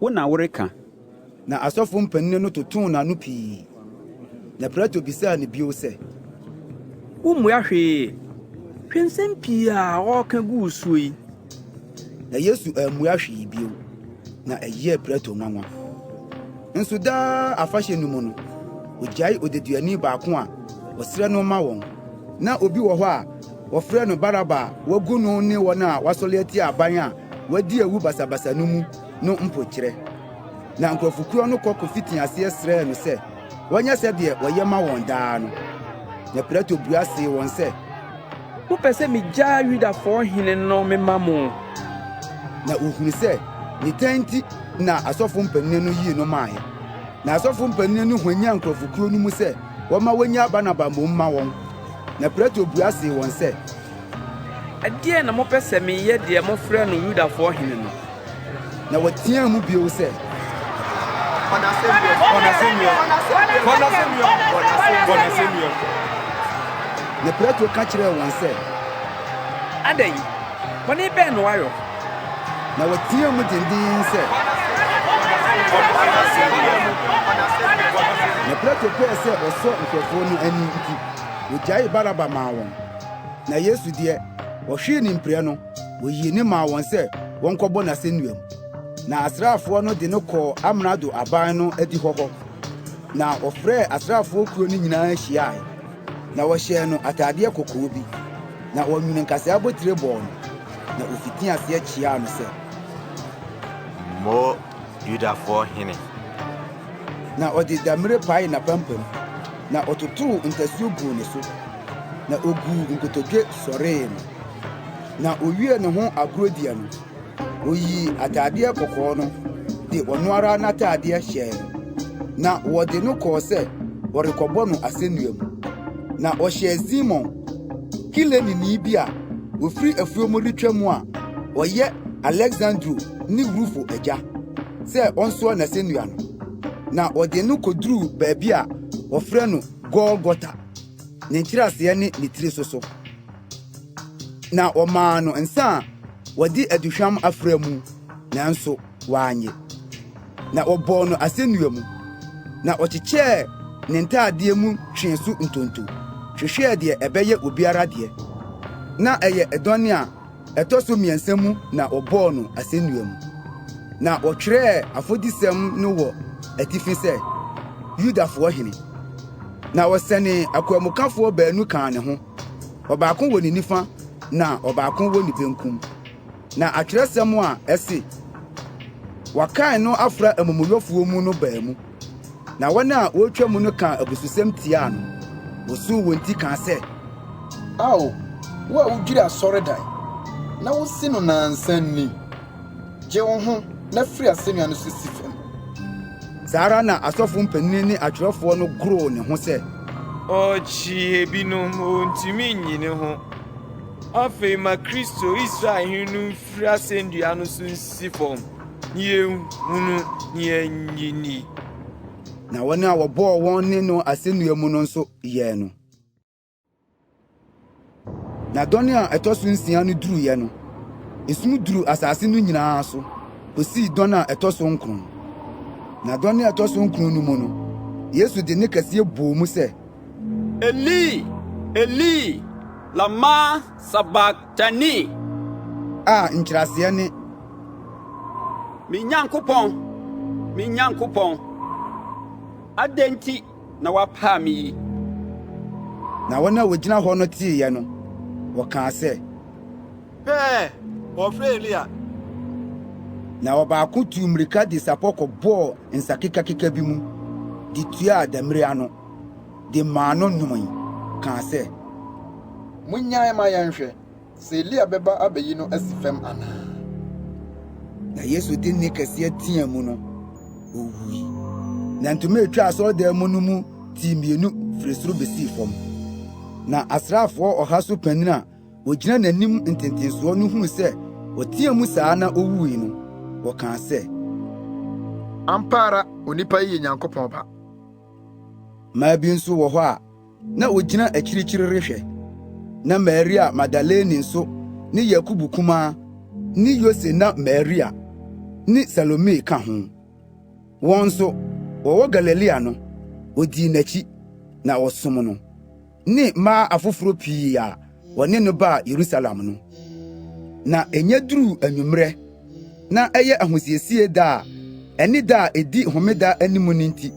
Wo na woreka? Na asɔfo mpanyin no totoo n'ano pii. Na Pilato bisaa no bio sɛ. Wummua hwee? Hwɛ nsɛm pii a ɔreka gu wo so yi! Na Yesu ammua hwee bio, na ɛyɛɛ Pilato nwanwa. Nso daa afahyɛ no mu no, ogyae odeduani baako a wɔsrɛ no ma wɔn. Ná obi wɔ hɔ a wɔfrɛ no Baraba a wɔagu no ne wɔn a wɔasɔre atia aban a wɔadi awu basabasa no mu. no mpokyerɛ, na nkurɔfokuo no kɔ kɔfiti aseɛ srɛɛ no sɛ wɔnyɛ sɛdeɛ wɔyɛ ma wɔn daa no. Na Pilato bua see wɔn sɛ. Mopɛ sɛ megyaa Yudafoɔ hene no mema mo? Na wɔhunu sɛ ne tan nti na asɔfoɔ mpanin no yii no maaeɛ. Na asɔfoɔ mpanin no hwanyan nkurɔfokuo no mu sɛ wɔmma wɔnnya Barnaba mmom mma wɔn. Na Pilato bua see wɔn sɛ. Ɛdeɛn na mopɛ sɛ meyɛ deɛ mofrɛ no Yudafoɔ hene no? Na wɔteaa mu bio sɛ, Bɔ n'asɛnnua! Bɔ n'asɛnnua! Bɔ n'asɛnnua! Bɔ n'asɛnnua! Na Pilato ka kyerɛɛ wɔn sɛ, Adɛn? Bɔne bɛn na wayɔ? Na wɔteaa mu denden sɛ, Na Pilato pɛɛ sɛ ɔsɔ nkurɔfoɔ no ani nti, ɔgyaee Baraba maa wɔn. Na Yesu deɛ, wɔhwee no mpire no, wɔyii no maa wɔn sɛ wɔnkɔbɔ no asɛnnua mu. Na asraafoɔ no de no kɔɔ amrado aban no adihɔ hɔ, na wɔfrɛɛ asraafoɔ kuo no nyinaa hyiaeɛ. Na wɔhyɛɛ no ataadeɛ kɔkɔɔ bi, na wɔnwenee nkasɛɛ abotire bɔɔ no, na wɔfitii aseɛ kyeaa no sɛ. Mo Yudafoɔ hene. Na ɔde damire paee n'apampam, na ɔtotoo ntasuo guu ne so, na ɔguu nkotodwe sɔree no. Na ɔwiee ne ho agorɔdua no, ɔyii ataadeɛ kɔkɔɔ no de ɔno ara n'ataadeɛ hyɛɛ no, na wɔde no kɔɔ sɛ wɔrekɔbɔ no asɛnnua mu. Na ɔhyɛɛ Simon, Kireneni bi a wɔfiri afuo mu retwa mu a ɔyɛ Alexandro ne Rufo agya sɛ ɔnsoa n'asɛnnua no, na ɔde no kɔduruu baabi a wɔfrɛ no Golgota, ne nkyerɛaseɛ ne ne tiri so so. Na wɔmaa no nsa a wɔde aduhwam afra mu, nanso Wannye, na wɔbɔɔ no asɛnnua mu, na ɔkyekyɛɛ ne ntaadeɛ mu twee so ntonto, hwehwɛɛ deɛ ɛbɛyɛ obiara deɛ. Ná ɛyɛ dɔn a ɛtɔ so mmiɛnsa mu na wɔbɔɔ no asɛnnua mu. Na wɔtwerɛɛ afɔdisɛm no wɔ atifi sɛ, Yudafoɔ Hene. Na wɔsɛnee akwanmukafoɔ baanu kaa ne ho, ɔbaako wɔ ne nifa na ɔbaako wɔ ne benkum. Na atwerɛsɛm a ɛse, Wɔkan no afra amumuyɔfoɔ mu no baa mu, na wɔn a wɔretwa mu no kaa abususɛm tiaa no, wɔsuu wɔn ti kaa sɛ, Ao, wo a wodwiri asɔredan, na wosi no nnansa ni, gye wo ho na firi asɛnnua no so si fam! Saa ara na asɔfo mpanini ne atwerɛfoɔ no goroo ne ho sɛ. Ɔkyee binom, ɔntumi nyi ne ho. Afei ma Kristo, Israel hene no mfiri asɛndua no so nsi fam na yɛnhunu na yɛnnye nni. Na wɔn a wɔbɔɔ wɔn ne no asɛnnua mu no nso yɛɛ no. Na dɔne a ɛtɔ so nsia no duruiɛ no, esum duru asase no nyinaa so kɔsii dɔne a ɛtɔ so nkron. Na dɔne a ɛtɔ so nkron no mu no, Yesu de ne kɛseɛ bɔɔ mu sɛ, Eli, Eli, lama sabaktani? A nkyerɛaseɛ ne. Me Nyankopɔn, me Nyankopɔn, adɛn nti na wapaa me yi? Na wɔn a wɔgyina hɔ no teeɛ no, wɔkaa sɛ. Pɛɛ, wɔrefrɛ Elia. Na ɔbaako tuu mmirika de sapɔ kɔbɔɔ nsakekakeka bi mu de tuaa demmire ano. de maa no nomee, kaa sɛ, Monnyae ma yɛnhwɛ sɛ Elia bɛba abɛyi no asi fam anaa. Na Yesu de nne kɛseɛ teaa mu no, ɔwuui. Na ntoma a ɛtwa asɔredan mu no mu tii mmienu firi soro bɛsii fam. Na asraafoɔ ɔha so panin a ɔgyina n'anim ntentensoɔ no huu sɛ ɔteaa mu saa na ɔwuui no, ɔkaa sɛ, Ampa ara onipa yi yɛ Nyankopɔn Ba. Mmaa bi nso wɔ hɔ a na wogyina akyirikyiri rehwɛ. Na Maria Magdalene nso ne Yakobo kumaa ne Yose na Maria ne Salome ka ho. Wɔn nso, wɔwɔ Galilea no, wodii n'akyi na wɔsom no. ne mmaa afoforo pii a wɔne no baa Yerusalem no. Na ɛnyɛ duruu anwummerɛ, na ɛyɛ ahosiesie da a ɛne da a edi homeda anim no nti,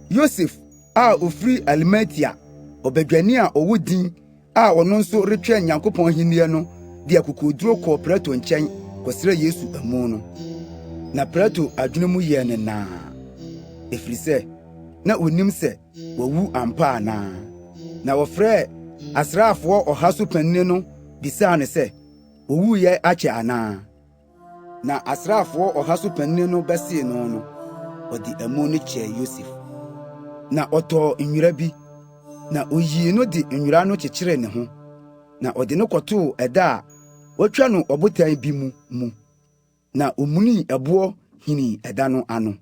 Yosef a ofiri Arimatea, ɔbadwani a ɔwɔ din a ɔno nso retwɛn Nyankopɔn ahenni no de akokoduru kɔɔ Pilato nkyɛn kɔsrɛɛ Yesu amu no. Na Pilato adwene mu yɛɛ no naa, efisɛ na onim sɛ Wawu ampa anaa? Na wɔfrɛɛ asraafoɔ ɔha so panini no bisaa no sɛ, Owuiɛ akyɛ anaa? Na asraafoɔ ɔha so panini no bɛsee no no, ɔde amu no kyɛɛ Yosef. Na ɔtɔɔ nwera bi, na oyii no de nwera no kyekyeree ne ho, na ɔde no kɔtoo ɛda a wɔatwa no ɔbotan bi mu mu, na omunii ɛboɔ hinii ɛda no ano.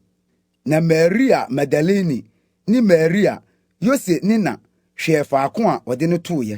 Na Maria Magdalene ne Maria, Yose ne na, hwɛɛ faako a wɔde no tooeɛ.